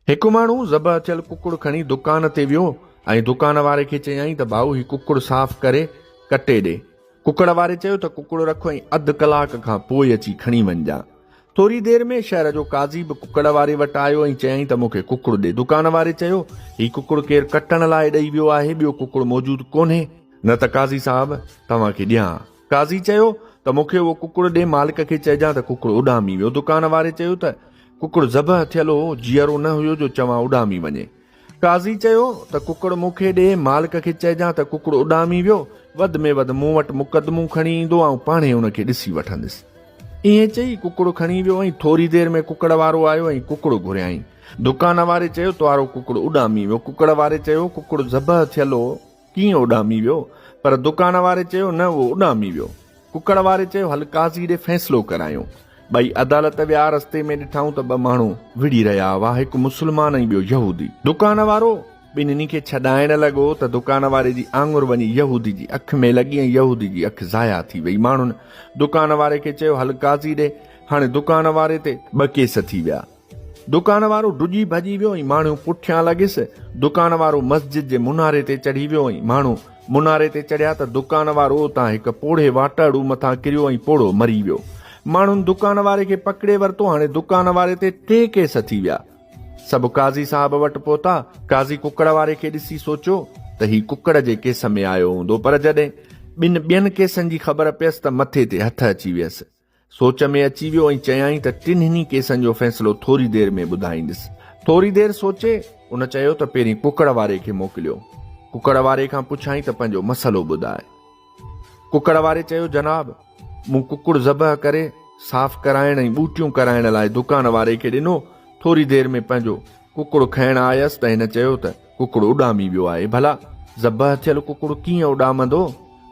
هڪ ماڻهو ذبح ٿيل ڪڪڙ کڻي دڪان تي ويو ۽ دڪان واري کي چيائين ته ڀائو هي ڪڪڙ صاف ڪري ڪٽي ڏي. ڪڪڙ واري چيو ته ڪڪڙ رک ۽ اڌ ڪلاڪ کان پوء اچي کڻي وڃجان. ٿوري دير ۾ شهر جو قاضي به ڪڪڙ واري وٽ آيو ۽ چيائين ته مون کي ڪڪڙ ڏي. دڪان واري چيو هي ڪڪڙ ڪير ڪٽڻ لاء ڏئي ويو آهي، ٻيو ڪڪڙ موجود ڪونهي، نه ته قاضي صاحب توهان کي ڏيان ها. قاضي چيو ته مون کي اهو ڪڪڙ ڏي مالڪ کي چئجان ته ڪڪڙ اڏامي ويو دڪان واري چيو ته ڪڪڙ ذبح ٿيل هو جيئرو نه هيو جو چوان اڏامي وڃي قاضي چيو ته ڪڪڙ مون کي ڏي مالڪ کي چئجان ته ڪڪڙ اڏامي ويو وڌ ۾ وڌ مون وٽ مقدمو کڻي ايندو آئون پاڻهي ان کي ڏسي وٺندس ائين چئي ڪڪڙ کڻي ويو ۽ ٿوري دير ۾ ڪڪڙ وارو آيو ۽ ڪڪڙ گهريائين دڪان واري چيو توارو ڪڪڙ اڏامي ويو ڪڪڙ واري چيو ڪڪڙ ذبح ٿيل هو ڪيئن اڏامي ويو؟ پر دڪان واري چيو نه اهو اڏامي ويو. ڪڪڙ واري چيو هل قاضي ڏي فيصلو ڪرايون. ٻئي عدالت ويا رستي ۾ ڏٺائون ته ٻه ماڻهو وڙهي رهيا هئا هڪ مسلمان ۽ ٻيو يهودي. دڪان وارو ٻنهي کي ڇڏائڻ لڳو ته دڪان واري جي آڱر وڃي يهودي جي اک ۾ لڳي ۽ يهودي جي اک ضايع ٿي وئي. ماڻهن دڪان واري کي چيو هل قاضي ڏي. هاڻي دڪان واري تي ٻه ڪيس ٿي ويا. دڪان وارو ڊڄي ڀڄي ويو ۽ ماڻهيون پٺيان لڳيس. دڪان وارو مسجد جي مناري تي چڙهي ويو ۽ ماڻهو مناري تي چڙهيا ته دڪان وارو اتان هڪ پوڙهي واٽهڙو مٿان ڪريو ۽ پوڙهو مري ويو. ماڻهن دڪان واري کي پڪڙي ورتو. هاڻي دڪان واري تي ٽي ڪيس ٿي ويا. سڀ قاضي صاحب وٽ پهتا. قاضي ڪڪڙ واري کي ڏسي سوچيو ته هي ڪڪڙ جي ڪيس ۾ آيو هوندو پر جڏهن ٻن ٻين ڪيسن جي خبر پيس ته مٿي تي هٿ اچي ويس. سوچ ۾ اچي ويو ۽ چيائين ته ٽنهني ڪيسن جو فيصلو ٿوري دير ۾ ٻڌائيندس. ٿوري دير سوچي، ان چيو ته پهرين ڪڪڙ واري کي موڪليو. ڪڪڙ واري کان پڇيائين ته پنهنجو مسئلو ٻڌاء. ڪڪڙ واري چيو جناب، مون ڪڪڙ ذبح ڪري، صاف ڪرائڻ ۽ ٻوٽيون ڪرائڻ لاء دڪان واري کي ڏنو، ٿوري دير ۾ پنهنجو ڪڪڙ کڻڻ آيس ته هن چيو ته ڪڪڙ اڏامي ويو آهي، ڀلا ذبح ٿيل ڪڪڙ ڪيئن اڏامندو؟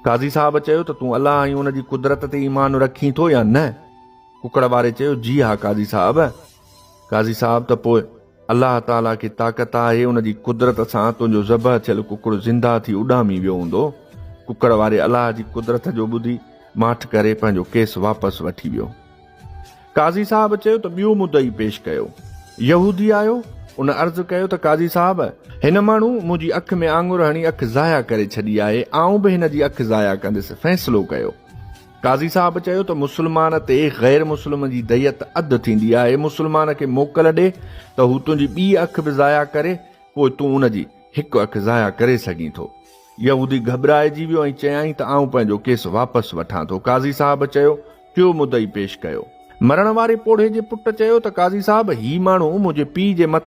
قاضي صاحب چيو ته تون الله ۽ ان جي قدرت تي ايمان رکين ٿو يا نه؟ ڪڪڙ واري چيو جي ها قاضي صاحب. قاضي صاحب ته پوء الله تعاليٰ کي طاقت آهي ان جي قدرت سان تنهنجو ذبح ٿيل ڪڪڙ زنده ٿي اڏامي ويو هوندو. ڪڪڙ واري الله جي قدرت جو ٻڌي ماٺ ڪري پنهنجو ڪيس واپس وٺي ويو. قاضي صاحب چيو ته ٻيو مدعي پيش ڪيو. يهودي آيو، ان عرض ڪيو ته قاضي صاحب! هن ماڻهو منهنجي اک ۾ آڱر هڻي اک ضايع ڪري ڇڏي آهي، آئون به هن جي اک ضايع ڪندس، فيصلو ڪيو. قاضي صاحب چيو ته مسلمان تي غير مسلم جي ديت اڌ ٿيندي آهي، مسلمان کي موڪل ڏي ته هو تنهنجي ٻي اک به ضايع ڪري، پوء تون ان جي هڪ اک ضايع ڪري سگهين ٿو. يهودي گهٻرائجي ويو ۽ چيائين ته آئون پنهنجو ڪيس واپس وٺان ٿو. قاضي صاحب چيو ٽيو مدعي پيش ڪيو. مرڻ واري پوڙهي جي پٽ چيو ته قاضي صاحب هي ماڻهو منهنجي پيء جي مٿي.